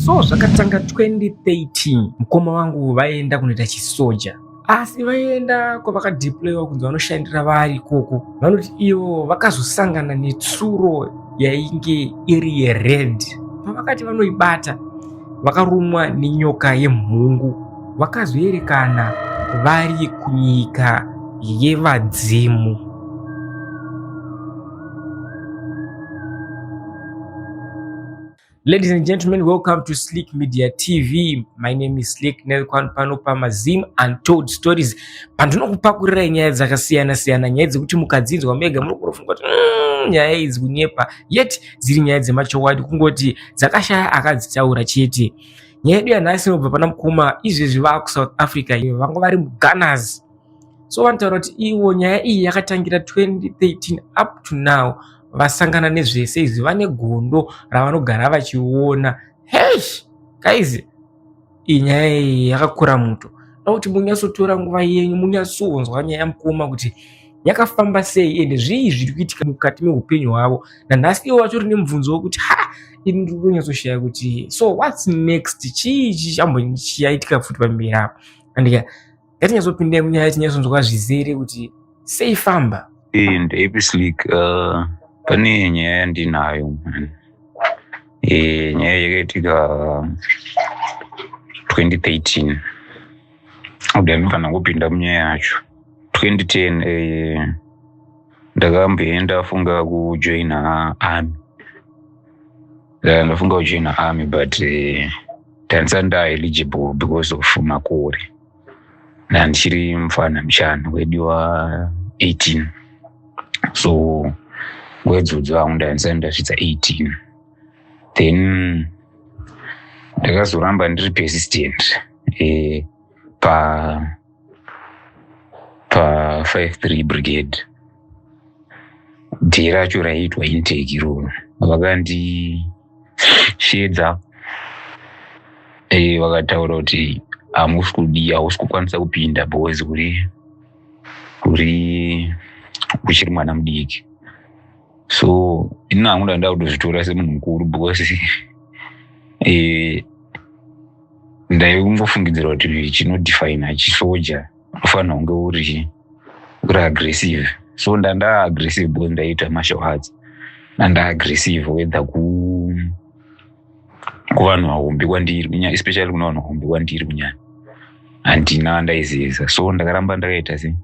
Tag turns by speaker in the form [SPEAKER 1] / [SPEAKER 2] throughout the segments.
[SPEAKER 1] So zvakatanga 2013 mukoma wangu vaienda kunoita chisoja asi vaienda kwavakadeployiwa kunzi vanoshandira vari ikoko vanoti ivo vakazosangana netsuro yainge iri yered pavakati vanoibata vakarumwa nenyoka yemhungu vakazoerekana vari kunyika yevadzimu Ladies and gentlemen, welcome to Slick Media TV. My name is Slick Nelkwan pano pamaZim Untold Stories. Pandinokupakurira nyaya dzakasiyana siyana, nyaya dzekuti mukadzinzwa mega munokurofunga kuti mm, nyaya idzi kunyepa, yet dziri nyaya dzemachokwadi kungoti dzakashaya akadzitaura chete. Nyaya yedu yanhasi inobva pana mukoma izvezvi vaa kuSouth Africa, vanga vari muGunners. so vanotaura kuti ivo nyaya iyi yakatangira 2013 up to now vasangana nezvese izvi vane gondo ravanogara vachiona hesh kaizi iyi nyaya iyi yakakura muto da kuti munyatsotora nguva yenyu munyatsonzwa nyaya yamukoma kuti yakafamba sei ende zvii zviri kuitika mukati meupenyu hwavo nanhasi ivo vatori nemubvunzo wekuti ha ini ndiri kunyatsoshaya kuti so whats next chii chii chambonyi chiyaitika futi pamberi apo andika ngatinyazopinde munyaya tinyazonzwa zvizere kuti sei famba eh, ndaipislik
[SPEAKER 2] uh, pane nyaya yandinayo man eh, nyaya yakaitika 2013 udamifana kupinda munyaya yacho 2010 eh, ndakamboenda funga kujoina army ndafunga kujoina army but eh, Tanzania nda eligible because of makore na ndichiri mfana mushana wediwa 18 so ngwedzodzo vangu ndainzani ndasvitsa 18 then ndakazoramba ndiri persistent eh, pa pa 53 brigade dhee racho raiitwa intake iroro vakandi shedza eh, vakataura kuti hamusi kudi hausi kukwanisa kupinda boys uri uri uchiri mwana mudiki so ini hangu ndaenda kutozvitora semunhu mukuru because eh, ndaikungofungidzira kuti chinodefina chisoja unofanira kunge uri kuri aggressive so ndandaa aggressive because ndaiita martial arts ndandaa aggressive whether ku kuvanhu vahombe kwandiri kunyanya especially kuna vanhu vahombe kwandiri kunyanya handina vandaizivisa so ndakaramba ndakaita se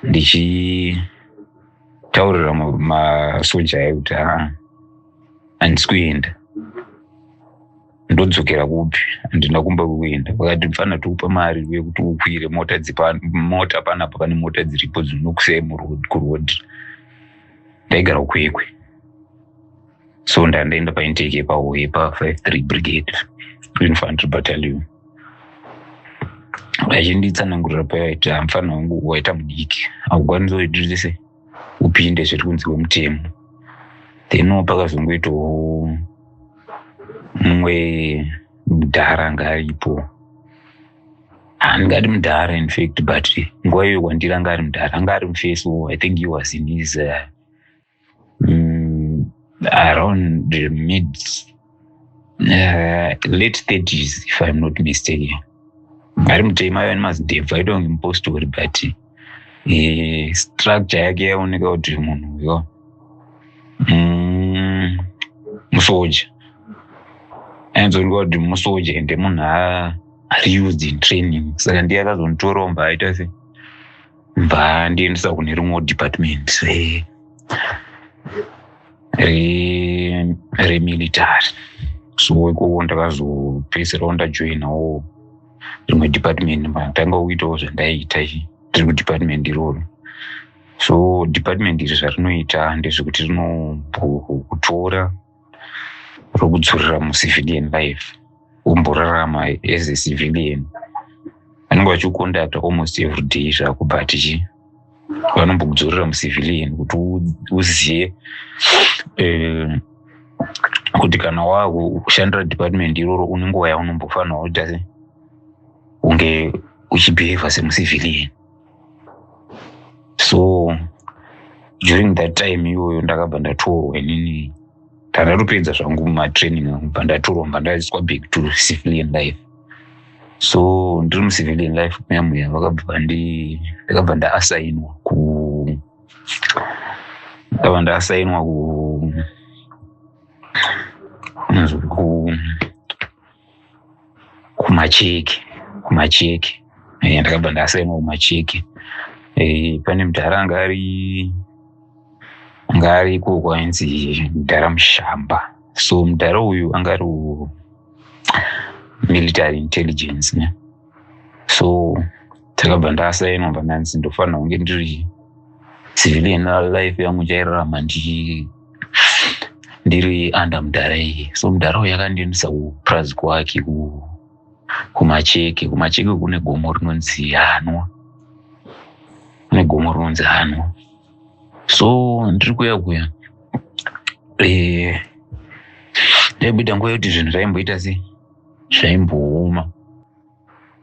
[SPEAKER 2] ndichitaurira masoja ayo kuti haa handisi kuenda ndodzokera kupi handina kumba kuenda vakati mfana tikupa mari yekuti ukwire mota mota panapa pane mota dziripo dzinokusei kurod ndaigara ukwekwe so ndandaenda paintake yepaho yepa five three brigade infantry battalion vachinditsanangurira payaita mfana wangu waita mudiki akukwanisa kuitise upinde zviri kunzi wemutemo then pakazongoitawo mumwe mudhara anga aripo handingati mudhara infact but nguva iyoyo kwandiri anga ari mudhara anga ari mufeso i think he was in his uh, mm, around mid uh, late 30s if i'm not mistaken ari mutema aiva nemazidebvu aitova kunge mupostori but uh, structure yake yaoneka kuti munhu uyo mm, musoja ainzooneka kuti musoja ende munhu ari used in training saka ndiye akazonitorawo mba aita se mba ndiendesa kune rimwewo department eh. remilitary re so ikoko ndakazopedzisirawo ndajoinawo rimwe department matanga kuitawo zvandaiita tiri kudepartment iroro so department iri zvarinoita ndezvekuti rinokutora rokudzorera mucivilian life womborarama as a civilian vanenge vachikukondakta almost every day zvako but chii vanombokudzorera mucivilian kuti uzive eh, kuti kana wakushandira department iroro une nguva yaunombofanira kuita se unge uchibehavha semucivilian so during that time iyoyo ndakabva ndatorwa inini ndatopedza zvangu matraining angu bva ndatoromba ndaiswa back to civilian life so ndiri mucivilian life muya muya vakabva ndakabva ndaasainwa ku ndakabva ndaasainwa ku kumacheki kumacheki eh, ndakabva ndasaimwa kumacheki eh, pane mudhara anga ari anga ari iko kwainzi mudhara mushamba so mudhara uyu anga ari military intelligence ne so takabva ndasainwa pandanzi ndofanira kunge ndiri civilian life yangu chairarama ndiri under mudhara iye so mudhara uyo yakandiendesa kupurazi kwake kumacheke kumacheke kune gomo rinonzi hanwa kune gomo rinonzi hanwa so ndiri kuya kuya eh, ndaibuda nguva yekuti zvinhu zvaimboita sei zvaimbooma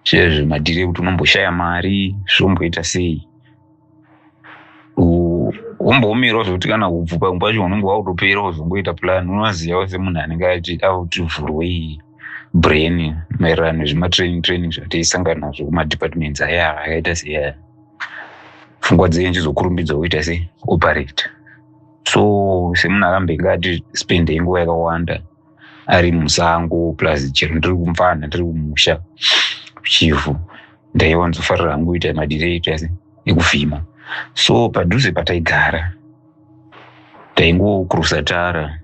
[SPEAKER 2] chezvo madhiri ekuti unomboshaya mari zvomboita sei womboomerawo zvekuti kana kubvu pamwe pacho unenge wakutopera wozongoita plan unoziva wese munhu anenge ati akuti vhurwei brain maererano nezvematraining training zvataisangana nazvo kumadepartments aya akaita seaya pfungwa dzenyu chizokurumbidza woita se operate so semunhu akambenge ati spendei nguva yakawanda ari musango plus chero ndiri kumfana ndiri kumusha chivhu ndaiwanzofarira hangu kuita madireito ese ekuvhima so padhuze pataigara taingokurusa tara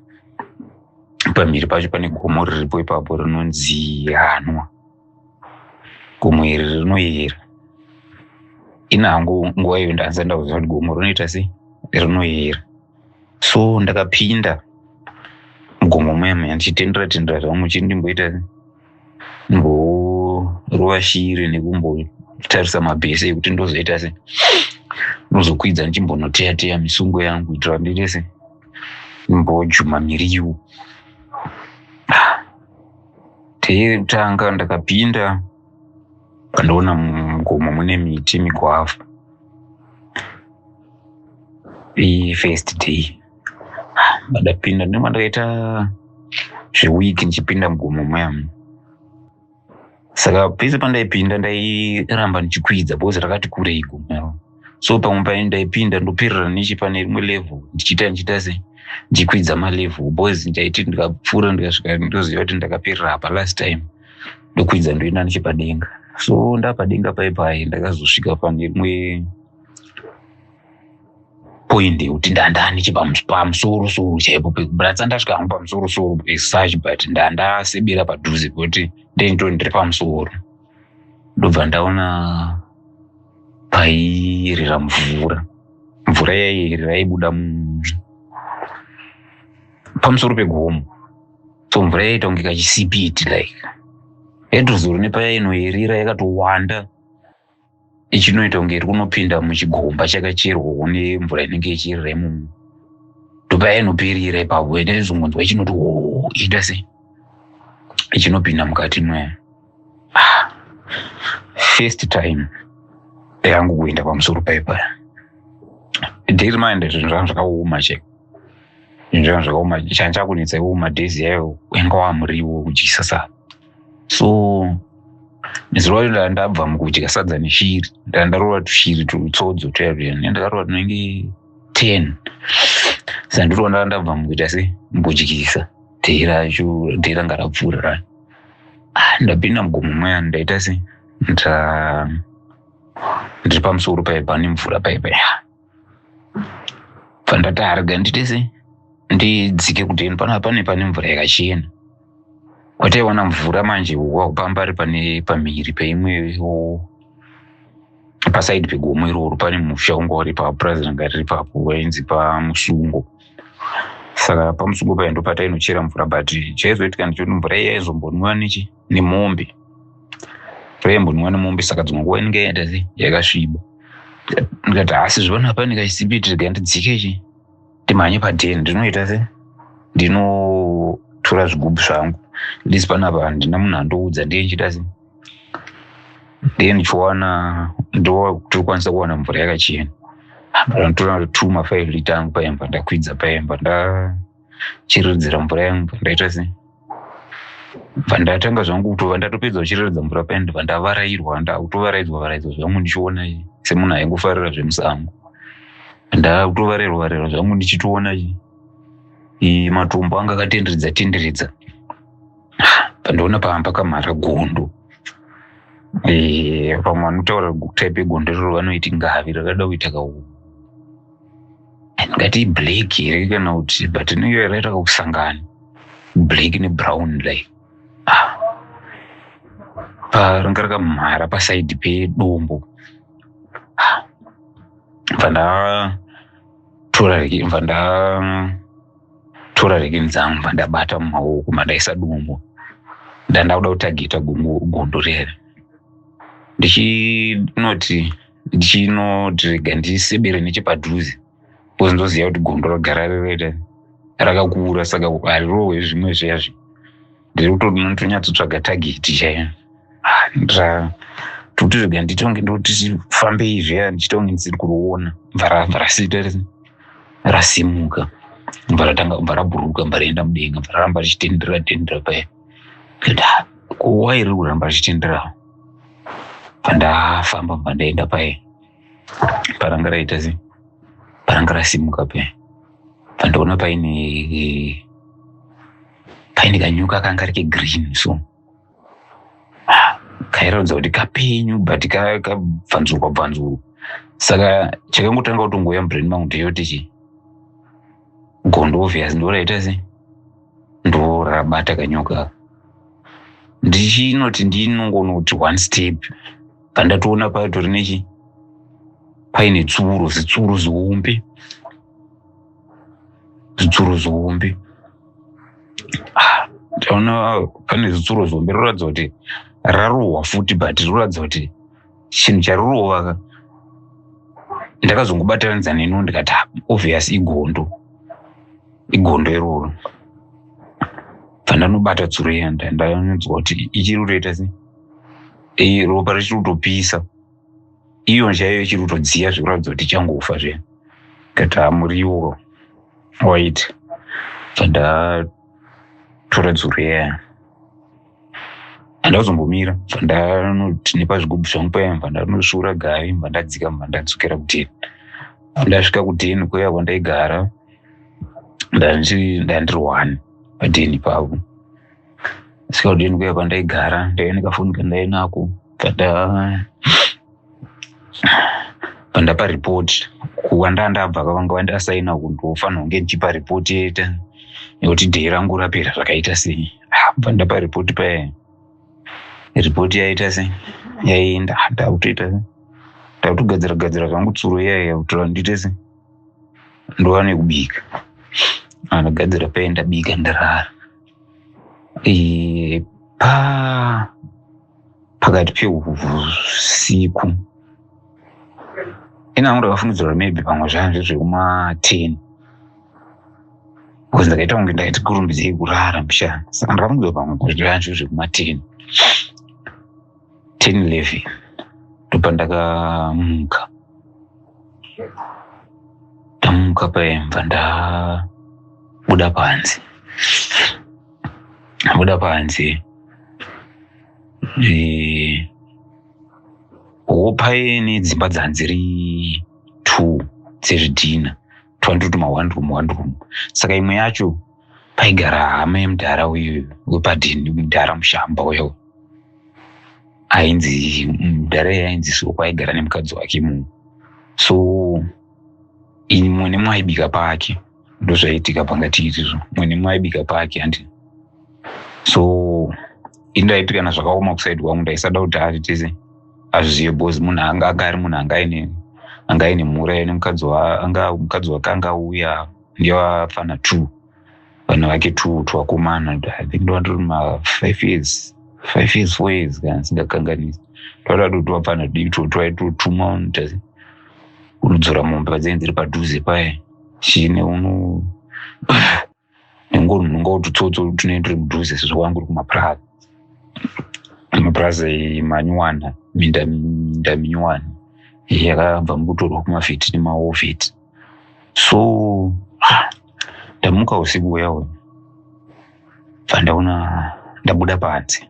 [SPEAKER 2] pamhiri pacho pane gomo riripo ipapo rinonzi hanwa gomo iri rinoyera ina hangu nguva iyo ndandisati ndakuziva kuti gomo rinoita sei rinoyera so ndakapinda mugomo muyama yandichitendera tendera zvangu chii ndimboita mborova shiri nekumbotarisa mabhese ekuti ndozoita se ndozokwidza ndichimbonoteya teya misungo yangu kuitira ndiite se ndimbojuma miriwo teyekutanga ndakapinda ndoona mugomo mune miti migwavha ifirst day ndadapinda ah, ndinenge ndakaita zveweek ndichipinda mugomo muyam saka pese pandaipinda ndairamba ndichikwidza because rakati kurei gomero so pamwe paye ndaipinda ndoperera neche pane rimwe level ndichiita ndichiita se ndichikwidza malevel because ndaiti ndikapfuura ndikasvika ndoziva kuti ndakaperera apa last time ndokwidza ndoenda nechepadenga so ndapadenga paye paye ndakazosvika pane rimwe point yekuti ndandani chepamusoro soro chaipo bratsa ndasvika hangu pamusoro soro such but ndandasebera padhuze pekuti ndinto ndiri pamusoro ndobva ndaona pairira mvura mvura yairira yaibuda pamusoro pegomo so mvura yaiita kunge kachisipiti like yatozoro nepayainoerera yakatowanda ichinoita kunge iri kunopinda muchigomba chakacherwawo nemvura inenge ichirira imomo ndopayainoperera ipapo ende zvingonzwa ichinoti hoo iita sei ichinopinda mukati mwayo first time yangu kuenda pamusoro paipa dare mind zvinhu zvangu zvakaoma cheko zvinhu zvangu zvakaoma changa chakunetsa iwo madays yayo wanga wamuriwo kudyisa sa so zuva iro ndanga ndabva mukudya sadza neshiri ndanga ndarova tushiri tutsodzo tuya tuya ndakarova tunenge ten sandiriwo ndanga ndabva mukuita se mukudyisa dare racho dare ranga rapfuura racho ndapinda mugomo maya ndaita se ndiri pamusoro paipa nemvura paipa ya pandati arega ndite se ndidzike kudeni panapa pane pane mvura yakachena kwataiwana mvura manje wakupambari pane pamhiri peimwewo pasaidi pegomo iroro pane musha unga uri paupurazi ranga riri papo wainzi pamusungo saka pamusungo paya ndo patainochera mvura but chaizoitika ndichoti mvura iya yaizombonwiwa nechi nemombe mvura yaimbonwiwa nemombe saka dzimwe nguva inenge yaenda se yakasviba ndikati asi zvivana pane kachisipi tirega ndidzike chi ndimhanye padheni ndinoita se ndinotora zvigubhu zvangu ndisi panapa handina munhu andoudza ndiye nchida se ndiye ndichiwana ndokwanisa kuwana mvura yakachena ndotora two mafive lita angu paimba ndakwidza paimba ndachiridzira mvura yangu pandaita sei pandatanga zvangu kutova ndatopedza kuchiriridza mvura paini ndibva ndavarairwa ndakutovaraidzwa varaidzwa zvangu ndichiona semunhu aingofarira zvemusango ndakutovarairwa varairwa zvangu ndichitoona matombo anga akatenderedza tenderedza pandiona pavanga pakamhara gondo eh, vamwe vanotaura type yegondo riro vanoiti ngavi rakada kuita kauu ndingati iblack here kana kuti but niyo yaraita kakusangana black nebrown like ah. paranga rakamhara pasaidi pedombo ah. bva ndatora bva nda tora rekeni dzangu pandabata mumaoko mandaisa dumbu ndandakuda kutageta gondo rere ndichinoti ndichinoti rega ndisebere nechepadhuze bcause ndoziva kuti gondo ragara rerere rakakura saka harirohwe zvimwe zviyazvi ndiri kutoti munhu tonyatsotsvaga tageti chaiyo ah, ndra tokuti zvega nditonge ndoti fambei zviya ndichitonge ndisiri kuriona bva rabva rasita rasimuka bva ratanga bva rabhuruka bva raenda mudenga bva raramba richitendera tendera paya nda kuwa iri kuramba richitenderawo bva ndafamba bva ndaenda paye paranga raita se paranga rasimuka paya bva ndaona paine paine kanyuka kanga rike green so kairatidza kuti kapenyu but kabvanzurwa bvanzurwa saka chakangotanga kutongouya mubrain mangu ndeyoti chi gondo obvious ndoraita se ndorabata kanyuka ndichinoti ndinongoona kuti one step pandatoona patori nechi paine tsuro zitsuro zihombe zitsuro zihombe ah, taona pane zitsuro zihombe roratidza kuti rarohwa futi but roratidza kuti chinhu charorova ka ndakazongobatanidza neno ndikati ah, obvious igondo igondo iroro pandanobata tsuro iya ndainzwa kuti ichiri kutoita sei ropa richiri kutopisa iyo chaiyo ichiri kutodziya zvekuratidza kuti ichangofa zve ndikati hamuriwo wait zvandatora dzoro yaya handakuzombomira zvandanoti nepazvigubhu zvangu paya mva ndanosvuura gari mva ndadzika mva ndadzokera kudheni ndasvika kudheni kuya kwandaigara ndandirwani padheni pavo sikadini kuya kwandaigara ndaive nekafoni kandainako kata pandapa report kuwanda ndabva kavanga vandasaina kundofanirwa kunge ndichipa report yete nekuti dheyi rangu rapera zvakaita sei ah, pandapa report paye report yaita sei yaienda ndakutoita sei ndakutogadzira gadzira zvangu tsuro yaiya kutora ndiite sei ndova nekubika andagadzira paye ndabika ndarara e, pa pakati peusiku ini angu ndakafungidzirwa maybe pamwe zvanzi zvekumaten bcause ndakaita kunge ndaiti kurumbidzei kurara mshana saka ndakafungidzirwa pamwe kuti zvanzi zvekumaten ten eleven ndopa ndakamuka ndamuka paimba ndabuda panze ndabuda panze hopaye nedzimba dzanziri two dzezvidhina twandu tuma one room one room saka imwe yacho paigara hama yemudhara uyu wepadhini mudhara mushamba uyo ainzi mudhara iye ainzi soko aigara nemukadzi wake mu so ini mwene mwaibika pake ndozvaitika pangati izvizvo mwene mwaibika pake handi so ini ndaitikana zvakaoma kusaidi kwangu ndaisada kuti ati tese azvizive bhozi munhu anga anga ari munhu anga aine anga aine mhura ine mukadzi anga mukadzi wake anga auya ndevafana two vana vake two twakomana i think ndovanditori mafive years five years four years kana singakanganisi twaida kuti vafana dii two twaitotuma unodzora mombe padzinenge dziri padhuze paye chine uno nengo munhu ngoti tsotso tunenge turi mudhuze sezvo wangu uri kumapurazi mapurazi manyuwana minda minda minyuwana yakabva mukutorwa kumafiti nemaofiti so ah, ndamuka usiku uya uya bva ndaona ndabuda panze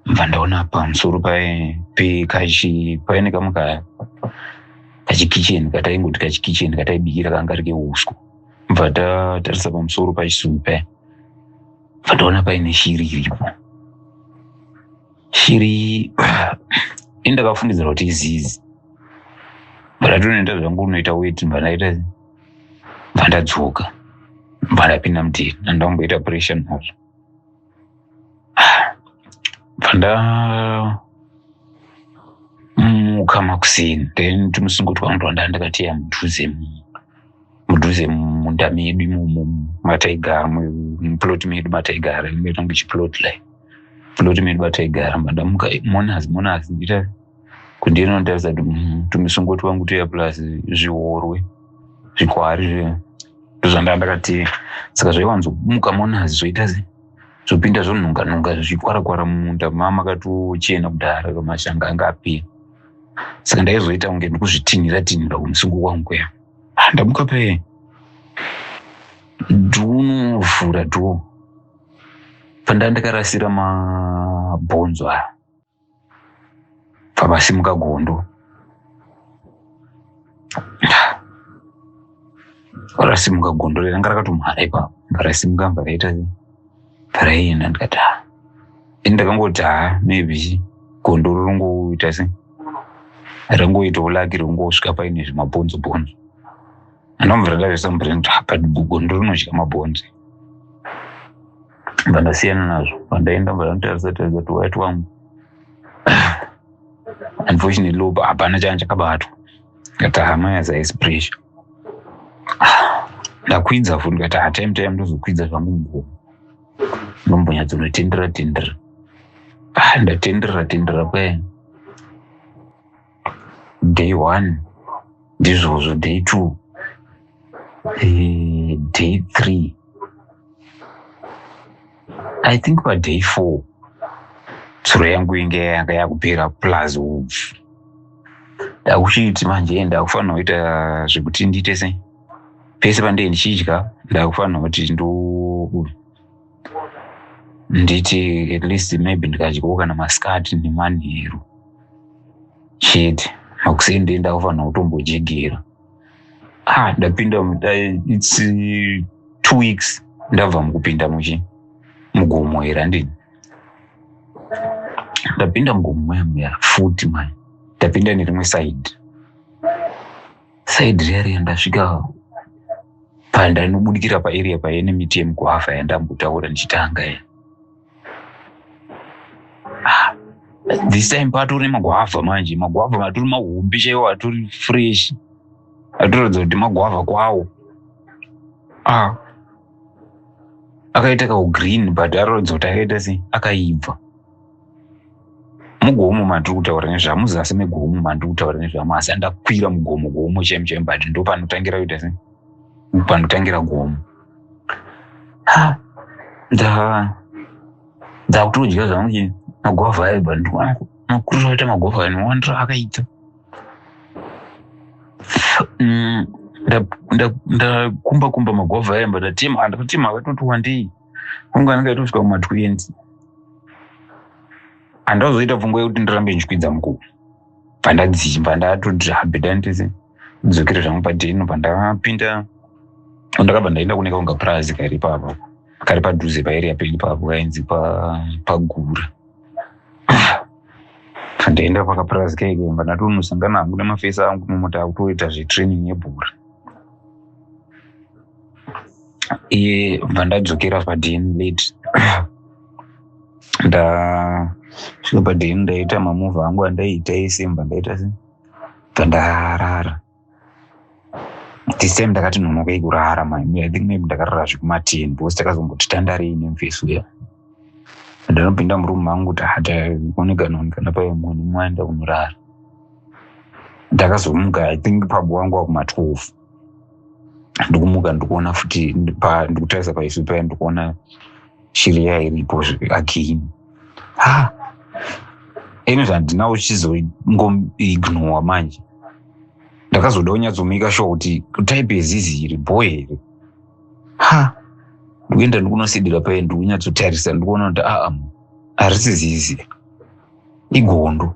[SPEAKER 2] bva ndaona pamusoro pekachi paine kamwe kachikicheni kataingoti kachikicheni kataibikira kanga rike uswa bva tatarisa pamusoro pachisumbi paya bva taona paine shiri iripo shiri ini ndakafungidzira kuti izizi bva ndatonoenda zvangu unoita weti bva ndaita bva ndadzoka bva ndapinda mudhiri andangoita pressure nazvo panda muka makuseni then tumusingo twangu twanda ndakatiya mudhuze mudhuze munda medu imomo mataigara muplot medu mataigara metange chiplot lai plot medu mataigara mandamuka monas monas ndita kundinotaridza kuti mm, tumisungo twangu tuya plus zviworwe zvikwari zve ndozvandaa ndakati saka zvaiwanzomuka monazi zvoita sei zvopinda zvonhunganhunga zvichikwarakwara mumunda mama akatochena kudhara kamashanga anga apera saka ndaizoita kunge ndikuzvitinhira tinhira kumusungo kwangu kuya ah, ndamuka pe dhunovhura dho pandaa ndakarasira mabhonzo aya pamasimuka gondo parasimuka gondo ranga rakatomhara ipapo parasimuka mva raita paraienda ndikati ha ini ndakangoti ha maybe gondo rorongoita se rangoitawo laki rongosvika paine zvimabhonzo bhonzo anobva radavesambrend apa gondo rinodya mabhonzo ndobva ndasiyana nazvo pandaenda ndobva ndanotaridza taridza kuti waiti wangu unfortunately uba hapana changa chakabatwa ndikati hama yaza is pressure ndakwidza futi ndikati hatime time ndozokwidza zvangu mugomo ndombonyatsonotendera tendera ah, ndatendera tendera kwayani day one ndizvozvo day two eh, day three i think paday four tsuro yangu inge yanga yakupera plus hubvu ndakuchiti manje ndakufanira kuita zvekuti ndiite sei pese pandee ndichidya ndakufanira kuti ndo nditi at least maybe ndikadyawo kana masikati nemanheru chete makuseni ndee ndakufanira kutombojegera ah ndapinda its two weeks ndabva mukupinda muchi mugomo here andini ndapinda mugomo mayamuya futi mani ndapinda nerimwe side side rearea ndasvika panda inobudikira paarea paye nemiti yemukuhava yandambotaura ndichitanga ye ah, this time patori nemaguhava manje maguhava matori mahombe chaiwo atori fresh atoratidza kuti maguhava kwawo ah akaita kahu green but arodzo takaita se akaibva mugomo mandiri kutaura nezvamo zasi megomo mandiri kutaura nezvamo asi andakwira mugomo gomo chaimo chaimo but ndo panotangira kuita se panotangira gomo ndakutodya zvangu che magwavha ayo but ndikuakurira kuita magwavha ayo nowandira akaita mm, ndakumba kumba magwavha ayo but atima andatotema akatoti wandei kunge anenge aitosvika kuma 20 handazoita pfungwa yekuti ndirambe ndichikwidza mukuru pandadzimba ndatoti habedantese dzokere zvangu padheno pandapinda ndakabva ndaenda kuneka kunga purazi kairi papa kari padhuze paeria pedu papo kainzi pagura pandaenda pakapurazi kaikemba ndatonosangana hangu nemafesi angu mumota akutoita zvetraining yebhora iye bva ndadzokera padn late ndasvika padn ndaita mamuva angu andaiita ese bva ndaita se bva ndarara this time ndakati nonokei kurara maimi i think maybe ndakarara zvekumaten because takazomboti tandarei nemfesi uya ndinopinda murumu mangu kuti hataonekanoonekana paye mwana mwaenda kunorara ndakazomuka i think pabo wangu wakumatwelve ndikumuka ndikuona futi ndikutarisa paisu paya ndikuona shiri iya iripo again ha anyway handina uchizongoignowa manje ndakazoda unyatsomika sure kuti type yezizi iri bho here ha ndikuenda ndikunosidira paye ndikunyatsotarisa ndikuona kuti aa ah, ah, harisi zizi igondo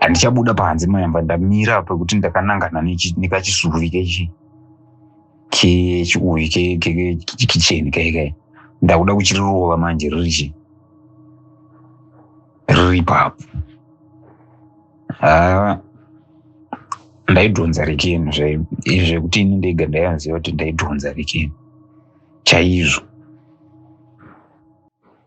[SPEAKER 2] handichabuda panze mayamba ndamira apa kuti ndakanangana nekachisuvi kechi kechiuvi kicheni kaikai ndakuda kuchirirova manje ririchi riri papo haa ndaidhonza rekeni zvekuti ini ndega ndaianziva kuti ndaidhonza rekeni chaizvo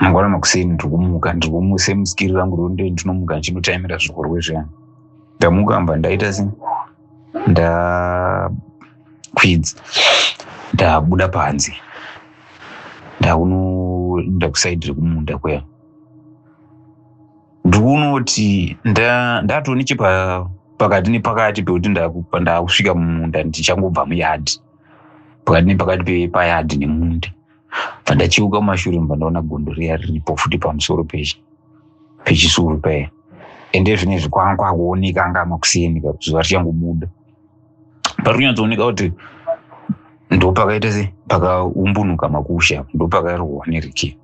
[SPEAKER 2] mangwana makuseni ndiri kumuka ndiri kumuse musikiri rangu ronde ndinomuka ndichinotaimira zvikorwe zviyani ndamuka mba ndaita se ndakwidza ndabuda panze ndakunoenda kusaidi rekumunda kuya ndikunoti ndatone chepakati nepakati pekuti ndakusvika mumunda ndichangobva muyadhi pakati nepakati pepayadhi nemunda pandachiuka kumashure mva ndaona gondo riya riripo futi pamusoro pechi pechisuru paya ende zvine zvikwanga kwakuoneka anga makuseni zuva richangobuda pari kunyatsooneka kuti ndopakaita se pakaumbunuka makusha ndopakarohwa neriki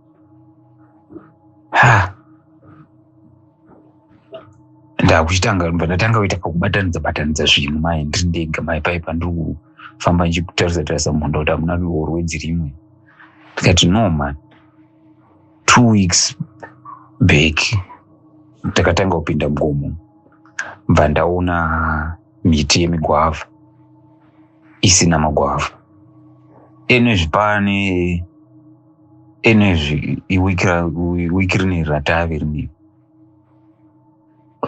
[SPEAKER 2] ha ndakuchitanga ndatanga kuita pakubatanidza batanidza zvinhu mai ndiri ndega mai pai pandiri kufamba ndichitarisa tarisa mhondo kuti hamuna ruorwe dzirimwe ndikati no man two weeks back takatanga kupinda mugomo bva ndaona miti yemigwavha isina magwavha enezvi pane enezvi iwikiri neri ratave rinei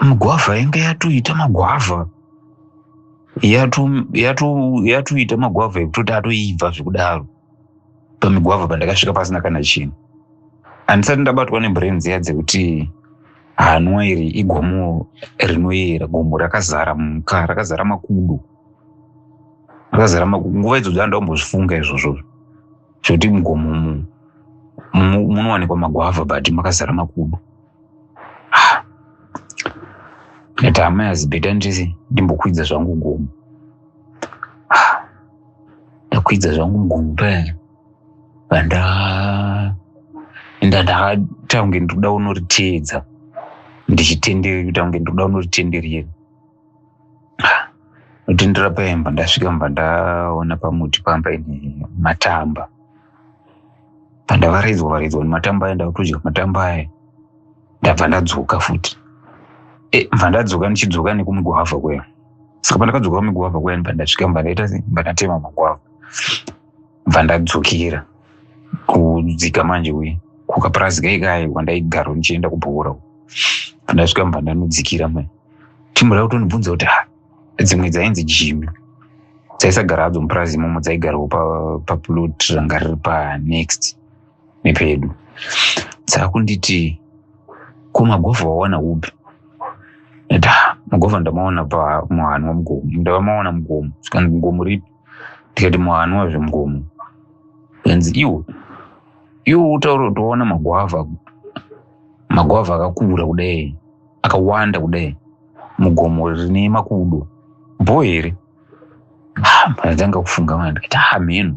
[SPEAKER 2] migwavha yanga yatoita magwavha yatoita magwavha ekutoti atoibva zvekudaro pamigwavha pandakasvika pasina kana chinhu handisati ndabatwa nemburenzi ya dzekuti hanwa iri igomo rinoyera gomo rakazara muka rakazara makudo rakazara makudo nguva idzodzo andakumbozvifunga izvozvozvo zvekuti mugomo munowanikwa magwavha but makazara makudo ndati ah. amai azibeta ndisi ndimbokwidza zvangu gomo ah. ndakwidza zvangu mugomo paya vanda enda ndakataunge ndikuda unoriteedza ndichitenderera kuti aunge ndikuda unoritenderera Ndotendera paimba ndasvika mba ndaona pamuti pamba ine matamba. Pandavaraidzwa varaidzwa nematamba aya ndakutodya matamba aya ndabva ndadzoka futi. E, mva ndadzoka ndichidzoka nekumugwavha kuya. Saka pandakadzoka kumugwavha kuya mba ndasvika mba ndaita sei? mba ndatema magwavha. Mba ndadzokera kudzika manje kuye kukapurazi kai kai kwandaigaro ndichienda kubhora. Pandasvika mba ndanodzikira manje. timbo rakutondibvunza kuti ha dzimwe dzainzi jimi dzaisagara hadzo mupurazi imomo dzaigarawo paplot pa ranga riri panext nepedu dzakunditi ko magovha wawana upi da magovha ndamaona pamuhani wamugomo ndavamaona mugomo zvikanzi mugomo ripi ndikati muhani wazvemugomo zvikanzi iwo iwo utaura kuti waona magwavha magwavha akakura kudai akawanda kudai mugomo rine makudo bho here ndanga kufunga mani ndikati ha mheno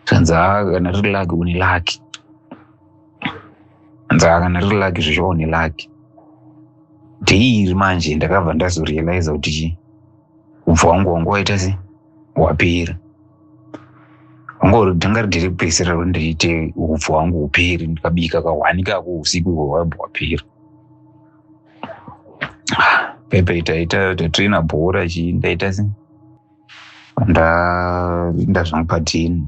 [SPEAKER 2] zvanzi kana riri laki une laki anzi kana riri laki zvizvo une laki dheiri manje ndakabva ndazorealiza kuti chii ubva wangu wangu waita se wapera ndanga ridiri kupedzisira ro ndiriite upfu hwangu huperi ndikabika kahwani kako usiku ihwo hwaibwa hwapera pepe itaita tatrina bhora chii ndaita se ndainda zvangu padhini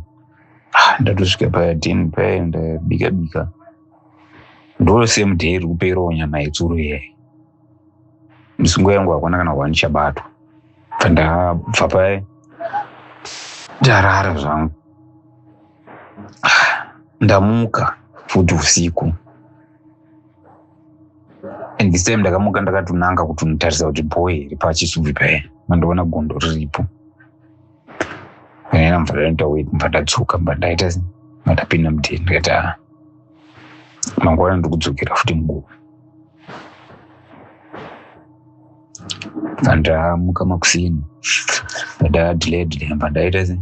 [SPEAKER 2] ah, ndatosvika padhini paye ndabika bika ndosame day iri kuperawo nyama yetsuro iyayi misungo yangu hakuna kana kuva ndichabatwa ndabva paye ndarara zvangu ah, ndamuka futi usiku and this time ndakamuka ndakatonanga kuti unotarisa kuti boy iri pachisubvi paye mandoona gondo riripo ena mvura inoita wet mva ndadzoka mba ndaita mandapinda mudheni ndikati a ah, mangwana ndikudzokera futi nguva vandamuka makuseni ndadadhiledhile mba ndaita sei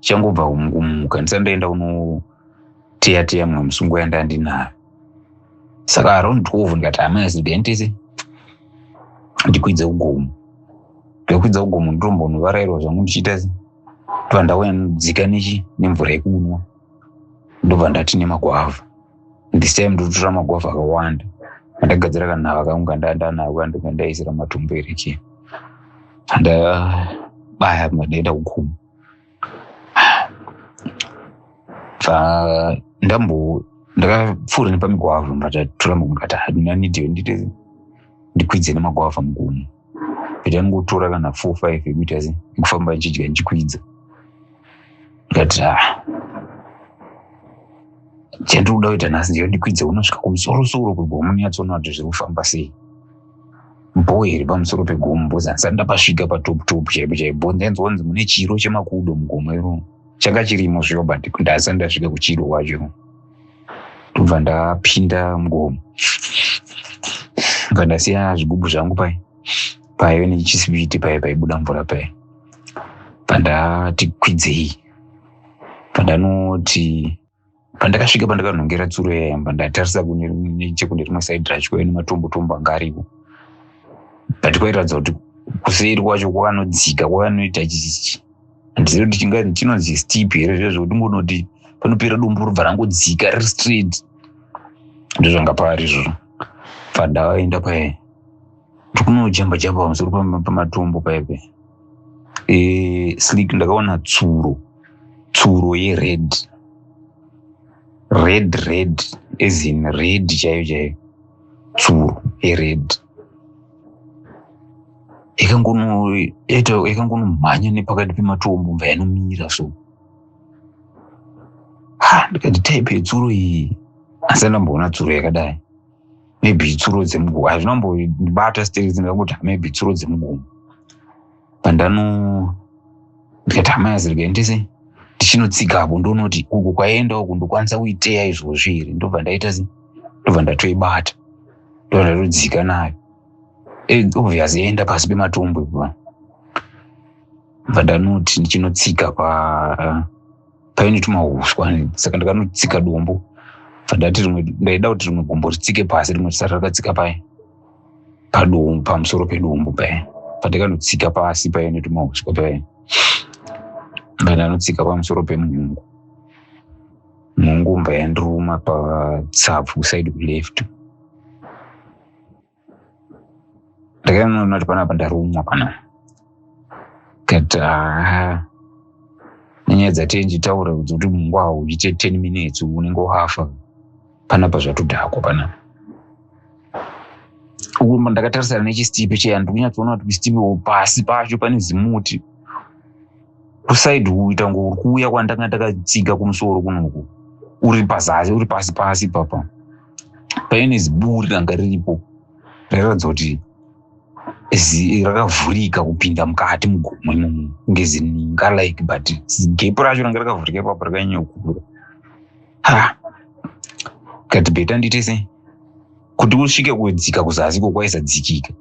[SPEAKER 2] changobva kumuka ndisati ndaenda kunoteya teya mumwe musungo yanda ndinayo saka around twelve ndikati amai zidentisi ndikwidze kugomo ndokwidza kugomo ndotombonovarairwa zvangu ndichiita se ndobva ndauya nodzika nechi nemvura yekunwa ndobva ndati nemagwavha this time ndotora magwavha akawanda andagadzira kanhava kangu kandandanako kandokandaisira matumbu erekeni andabaya madendakugomo Ah, ndambo ndakapfuura nepamigwavha matatura mugata hadina nidhiyo nditi ndikwidze nemagwavha mugumo but angotora kana four five ekuita se ekufamba ndichidya ndichikwidza ndikati ah chandiri kuda kuita nhasi ndiyo ndikwidze unosvika kumusoro soro kugomo niyatsoona kuti zviri kufamba sei bho iri pamusoro pegombo zanisati ndapasvika patop top chaipo chaipo ndainzwa kunzi mune chiro chemakudo mugomo iro changa chirimo zviyo but ndasati ndasvika kuchiro kwacho ndobva ndapinda mugomo bva ndasiya zvigubhu zvangu pai paive nechisipiti paye paibuda mvura paye bva ndati kwidzei bva ndanoti pandakasvika pandakanhongera tsuro yayamba ndatarisa chekune rimwe saidi racho kwaive nematombo tombo anga aripo but kwairatidza kuti kuseri kwacho kwakanodzika kwakanoita chichi handizivi kuti chingazi chinonzi step here zviya zvekuti ngonoti panopera dumbu robva rangodzika riri straight ndozvanga paari izvozvo pandavaenda paye kunojamba jamba pamusoro pamatombo paipe e, slik ndakaona tsuro tsuro yered red red ezin red chaiyo chaiyo tsuro yered yakangonomhanya nepakati pematombo mva yanomira so ha ndikati type yetsuro iyi asi andamboona tsuro yakadai maybe itsuro dzemugomo hazvina kumbondibata still dzinoda kuti maybe itsuro dzemugomo pandano ndikati amai azirikuendese ndichinotsiga apo ndonoti uku kwaenda uku ndokwanisa kuiteya izvozvi here ndobva ndaita se ndobva ndatoibata ndobva ndatodzika nayo eh, obvious yaenda pasi pematombo ipa bva ndanoti ndichinotsika pa paine tumahuswa saka ndakanotsika dombo fandati rimwe ndaida kuti rimwe gumbo ritsike pasi rimwe risati rakatsika paye padombo pamusoro pedombo paye pandakanotsika pasi paye netumahuswa paye ndandanotsika pamusoro pemunhungu munhungu mba yandiruma patsapfu kusaidi kuleft ndakaona kuti panapa ndarumwa pana kati haa nenyaya dzatenji taura kudzi kuti mungwa hauite ten minutes unenge wafa panapa zvatodhakwa panapa uku ndakatarisana nechisipe cheya ndikunyatsoona kuti kusipe pasi pacho pane zimuti kusaidi kuita ngo uri kuuya kwandanga ndakatsiga kumusoro kunoku uri pazasi uri pasi pasi papa paine ziburi ranga riripo rairatidza kuti rakavhurika kupinda mukati mugomo imomo kunge zininga like but gepo racho ranga rakavhurika ipapo rakanyanya kukura ha kati beta ndiite sei kuti kusvike kudzika kuzasi ko kwaisadzikika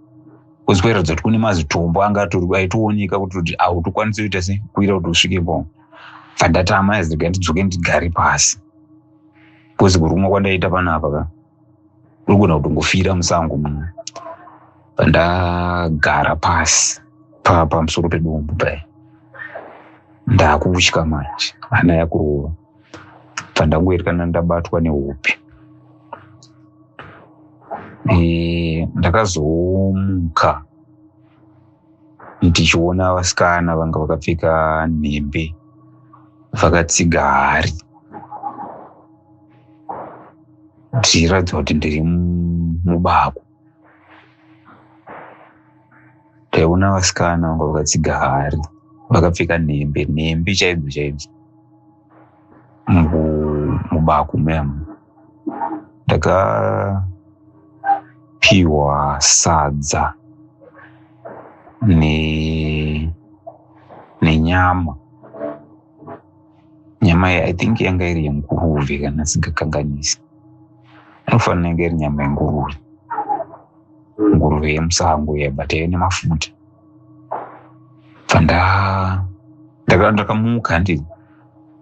[SPEAKER 2] kozi kwairatidza kuti kune mazitombo anga aitooneka kuti kuti autokwanisa kuita sei kuira kuti usvike po fandatama azirega ndidzoke ndigare pasi bcause kurumwa kwandaita panapa ka kurigona kutongofira musango muno pandagara pasi pa pamusoro pedombo paya ndakutya manje hana yakurova pandangoerekana ndabatwa nehope e, ndakazomuka tichiona vasikana vanga vakapfeka nhembe vakatsiga hari zvichiratidza kuti ndiri mubako taiona vasikana vanga vakatsiga hari vakapfeka nhembe nhembe chaidzo chaidzo mubaku mem ndakapiwa sadza ne nenyama nyama iyi i think yanga iri yenguruve kana singakanganisi inofanira yanga iri nyama yenguruve nguruve yemusango iya but yaive nemafuta panda ndaka- ndakamuka handi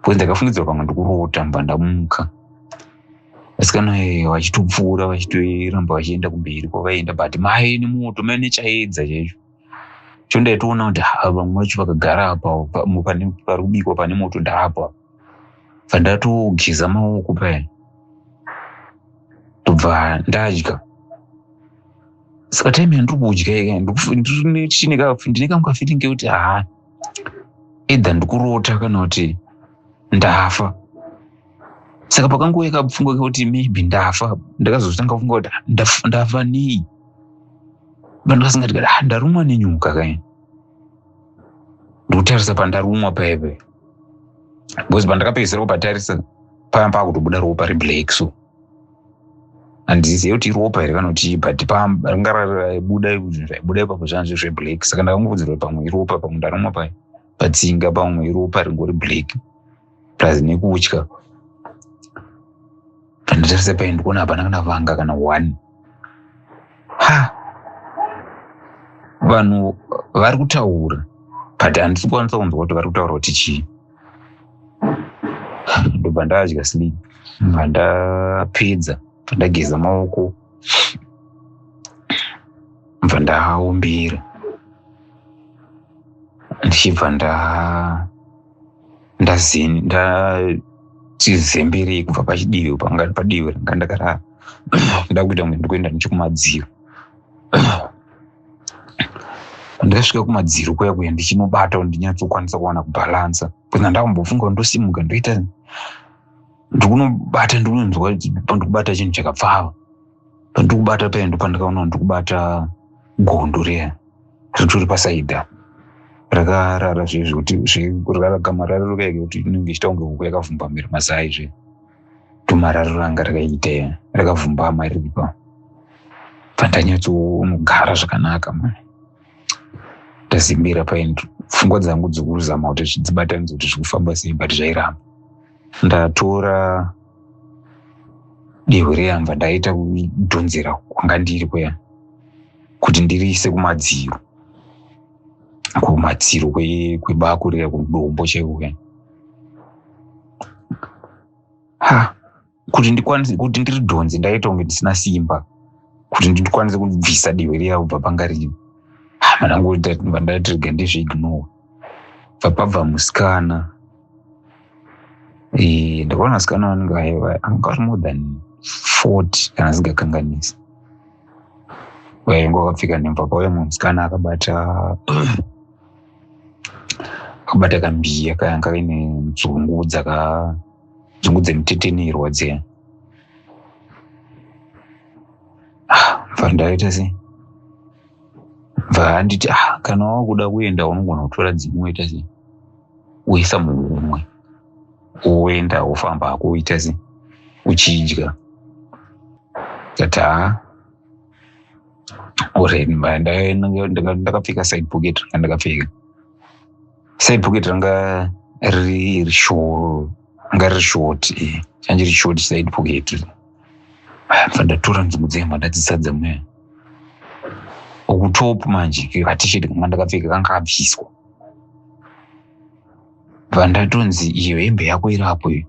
[SPEAKER 2] bcause ndakafungidzira pamwe ndikurota mba ndamuka vasikana eh, vachitopfuura vachitoramba vachienda kumberi kwavaenda but mai nemoto mai nechaedza chaicho cho ndaitoona kuti ha, vamwe vacho vakagara apa pa- mu- pane pari kubikwa pane moto ndaapa pandatogeza maoko paya ndobva ndadya saka time yandiri kudya ika ndine kamwe kafeeling kekuti haa either ndikurota kana kuti ndafa saka pakangouya kapfungwa kekuti maybe ndafa ndakazotanga kufunga kuti ah, ndafa nei vanhu vasingati kati ah, ndarumwa nenyuka kai ndikutarisa pandarumwa paipe because pandakapedzisira kupatarisa paya pakutobuda ropa reblack so handizive kuti iropa here kana kuti but panga raibuda zvaibuda ipapo zvanzi zveblack saka ndakangokudzirwa pamwe iropa pamwe ndaroma pa patsinga pamwe iropa ringori black plus nekutya pandatarisa paini ndikuona hapana kana vanga kana one ha vanhu vari kutaura but handisi kukwanisa kunzwa kuti vari kutaura kuti chii ndobva ndadya sleep pandapedza pandageza maoko bva ndaombera ndichibva nda ndazembere kubva pachidivi panga padivi ranga ndakarara ndakuita kunge ndikuenda nechokumadziro ndakasvika kumadziro kuya kuya ndichinobata ndinyatsokwanisa kuwana kubhalansa bcause ndandambofunga kuti ndosimuka ndoita ndikunobata ndikunonzwa pandikubata chinhu chakapfava pandikubata paya ndo pandakaona ndikubata gondo riya ritori pasaida rakarara zvezvekuti zvekurara gama rariro kaeke kuti inenge ichita kunge huku yakavhumba mhere mazai zve tumararo ranga rakaite rakavhumbama riripa pandanyatsonogara zvakanaka ma ndazimbira paini pfungwa dzangu dzikuzama kuti zvidzibatanidza kuti zvikufamba sei but zvairamba ndatora dehwe reyamva ndaita kudhonzera kwanga ndiri kuya kuti ndiriise kumadziro kumadziro kwebako riya kudombo chaiko kuya ha kuti ndikwanise kuti ndiri dhonzi ndaita kunge ndisina simba kuti ndikwanise kubvisa divi riya kubva panga rino manangoandatirega ndizviignore bva pabva musikana eh, ndakaona musikana vanenge anga ari more than fort kana asingakanganisi vainge vakapfeka nhemva pauya mumwe musikana akabata akabata kambiya kayanga kaine nzungu dzaka nzungu dzemutetenirwa dziya ah, bva ndaita sei bva handiti ah, kana wakuda kuenda unogona kutora dzimwe woita sei woisa muhumwe woenda wofamba hako woita sei uchidya tata uri ndakapfeka side pocket ranga ndakapfeka side pocket ranga riri short ranga riri short change riri short side pocket ndatora nzungu dzemba ndadzisadza mweya ukutop manje katisheti kanga ndakapfeka kanga kabviswa bva ndatonzi iyo hembe yako iri apo iyo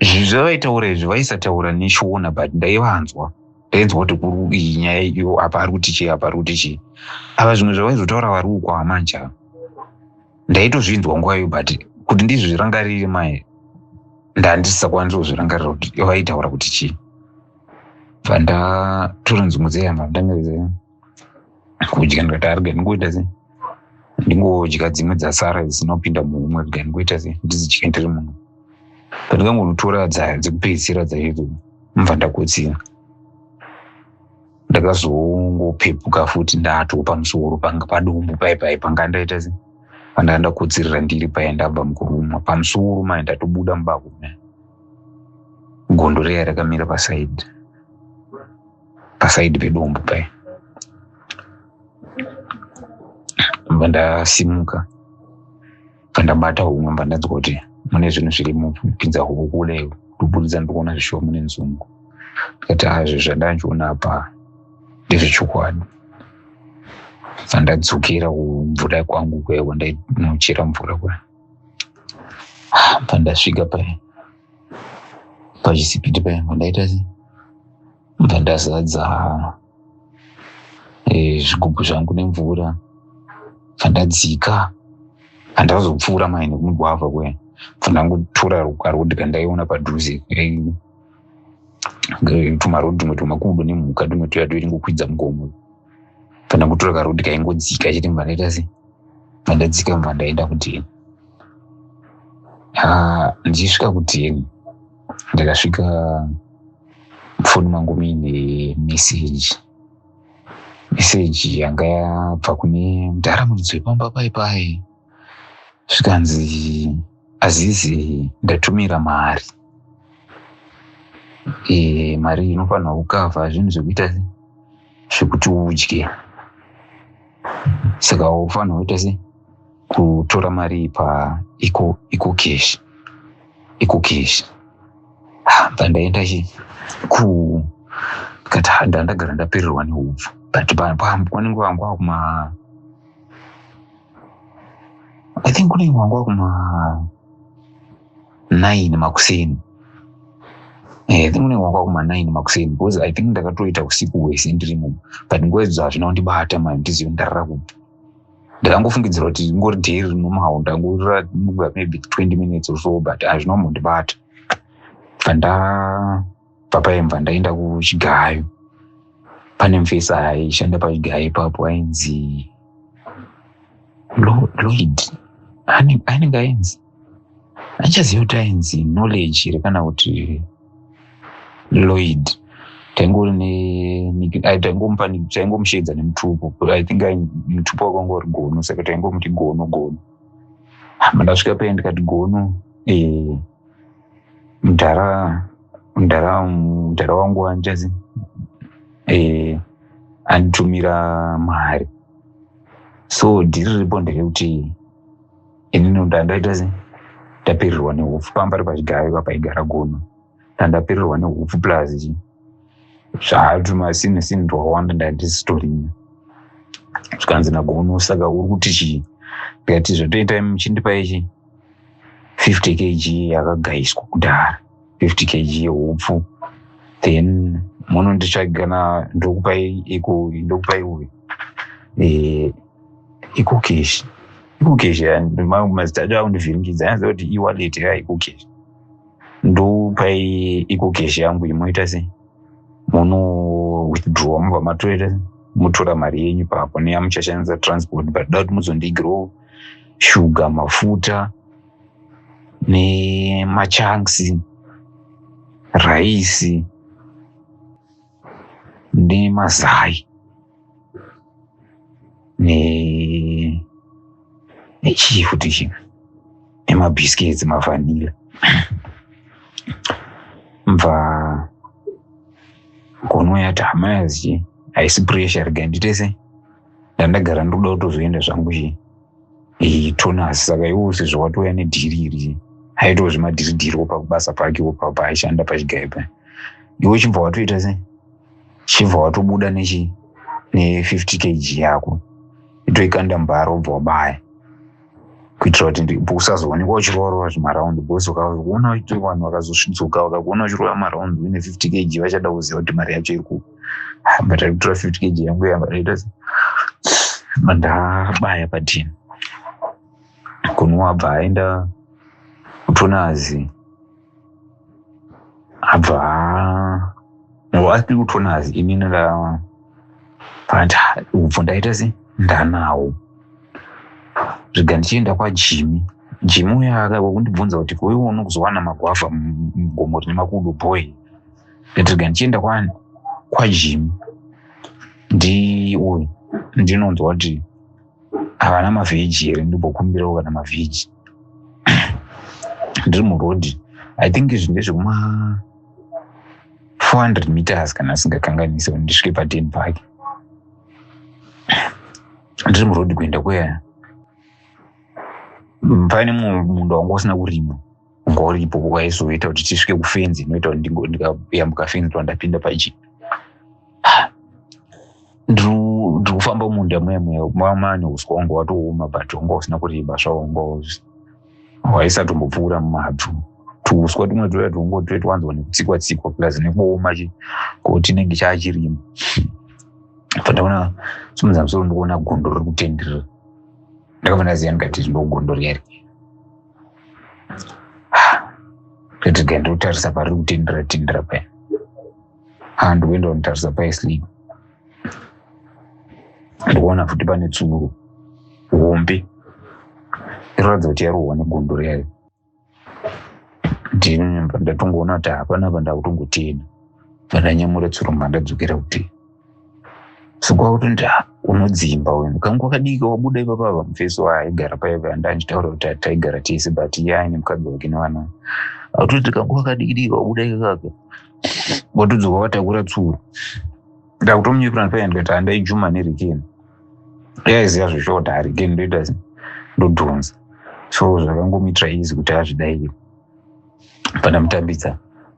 [SPEAKER 2] zvinhu zvavaitaura izvi vaisataura nechiona but ndaivanzwa ndainzwa kuti kuri iyi nyaya iyo apa ari kuti chii apa ari kuti chii ava zvimwe zvavaizotaura vari uko amanja ndaitozvinzwa nguva iyo but kuti ndizvirangarire mai ndandisisakwanisi kuzvirangarira kuti vaitaura kuti chii bva ndatoronzi mudzeyamba ndangaizee kudya ndikati arega ndingoita sei ndingodya dzimwe dzasara dzinopinda muhumwe rega ndingoita sei ndizidye ndiri muno pandikangotora dzayo dzekupedzisira dzaidzo mva ndakotsira ndakazongopepuka futi ndato pamusoro panga padumbu pai pai panga ndaita se pandanga ndakotsirira ndiri paye ndabva mukurumwa pamusoro mai ndatobuda mubako gondo reya rakamira pasaidi pasaidi pedombo paya bva ndasimuka bva ndabata humwe bva ndanzwa kuti mune zvinhu zviri mupinza huku kule kuburidza ndikuona zvishuwa mune nzungu ndikati hazvo zvandandiona apa ndezvechokwadi bva ndadzokera kumvura kwangu kwewa ndainochera mvura kwe bva ndasvika paya pachisipiti paya ndaita se bva ndazadza eh, zvigubhu zvangu nemvura bva ndadzika handazopfuura mai nekumugwavha kuya bva ndangotora rukwa rwoti kandaiona padhuze tumarodi tumwe tumakudo nemhuka tumwe tuya toiri ngokwidza mugomo kana kutora karodi kaingodzika chete mva ndaita sei ndandadzika mva ndaenda kudheni ah, ndichisvika kudheni ndakasvika mufoni mangu muine meseji meseji yanga yabva kune mudhara muridzi wepamba pai pai zvikanzi azizi ndatumira mari e, mari inofanirwa kukavha zvinhu zvekuita zvekuti udye saka ufanira kuita se kutora mari pa iko iko cash iko cash pandaenda chi ku kati ndandagara ndapererwa nehupfu but panenge wangu wakuma i think kunenge wangu wakuma nine makuseni eh, i think unenge wanga kuma nine makuseni because i think ndakatoita usiku hwese ndirimo but nguva idzo hazvina kundibata mani ndizive ndarara kupi ndakangofungidzira kuti ingori day rinomawo ndangorira maybe twenty minutes or so but hazvina kumbondibata but nda papaimba ndaenda kuchigayo pane mfesi aishanda pachigayo ipapo ainzi lloyd anenge ainzi andichaziva kuti ainzi knowledge here kana kuti lloyd taingomusheedza nemutupo i think mutupo wakanga uri gono saka taingomuti gono gono mandasvika paye ndikati gono ee eh, mdhara mdhara mdhara wangu hanjazi eh, anditumira mari so dhiri riripo nderekuti ini noda ndaita se ndapererwa nehupfu pamba ri pachigayo papaigara gono ndandapererwa nehupfu plus zvaatuma sini sini ndwawanda ndandisitorina zvikanzi nagono saka uri kuti chii ndikati zvatoita muchindipa ichi 50 kg yakagaiswa kudhara 50 kg yehupfu then munonditsvagana ndokupai iko ndokupai uyu eh, ikukeshi ikukeshi mazita acho akundivhiringidza anza kuti iwalet ya ikukeshi ndopai ikukeshi yangu imoita se muno withdrawa mubva matoita mutora mari yenyu papo neyamuchashandisa transport but da kuti muzondigrow shuga mafuta nemachanksi raisi nemazai ne nechii futi chimwe nemabhiskets mavanila mva ngono yati hama yazichi haisi pressure regai nditese ndandagara ndikuda kutozoenda zvangu chi eh, tonasi saka iwo sezvo watouya nedhiri iri aitawo zvemadhiridhiri wopa kubasa pake wopa paaishanda pachigayo pa iwe chibva watoita se chibva watobuda nechi ne-50 kg yako itoikanda mbara wobva wabaya kuitira kuti usazoonekwa uchiroorwa zvimaraundi bcause ukaona uite vanhu vakazosvitsuka vakakuona uchirova maraundi uine fifty kg vachada kuziva kuti mari yacho iri ku but ari kutora fifty kg yangu yambaita mandabaya padini kunwa abva aenda kutonazi abva asi kutona hazi ini nda but ubvo ndaita se ndanawo zvega ndichienda kwajimi jimi uya akava kundibvunza kuti koiwe unokuzowana magwavha mugomo rine makudo boy ndatiga ndichienda kwani kwajimi ndi uyu ndinonzwa kuti havana mavheji here ndimbokumbirawo kana mavheji ndiri muroad i think izvi ndezvekuma 400 meters kana asingakanganise ndisvike paden park ndiri muroad kuenda kweya paine mumwe munda wanga usina kurima ngori ipo kwaizoita kuti tisvike kufenzi inoita kuti ndikayambuka fenzi pa ndapinda paji ndiri kufamba munda muya muya mama ane uswa wanga watooma but wanga usina kureba zvawo wanga waisatombopfuura mumadhu tuuswa tumwe tuya twongo tuya twanzwa nekutsikwa tsikwa plus nekuoma chi ko tinenge chaachirima pandaona simunza musoro ndikuona gondo riri kutenderera ndakabva ndaziva ndikati ndogondo riya rii Ndotidya ndotarisa pari kutindira tindira paya. Ah, ndoenda kunotarisa paya sleep. Ndoona futi pane tsuro hombe inoratidza kuti yarohwa negondo riyayo. Ndinonyamba ndatongoona kuti hapana apa ndakutongotienda. Pandanyamura tsuro mandadzokera kuti sokwakuti ndi unodzimba uyu mukanga wakadika wabuda ipapa ava mufesi waaigara paive andanditaura kuti taigara tese but iye aine mukadzi wake nevana atoti tikanga wakadikidika wabuda ikakaka watodzoka watakura tsuro ndakutomunyepera ndipaya ndikati handai juma nerikeni yaiziva zveshota harikeni ndoita ndodhonza so zvakangomuitira izi kuti azvidaire pandamutambidza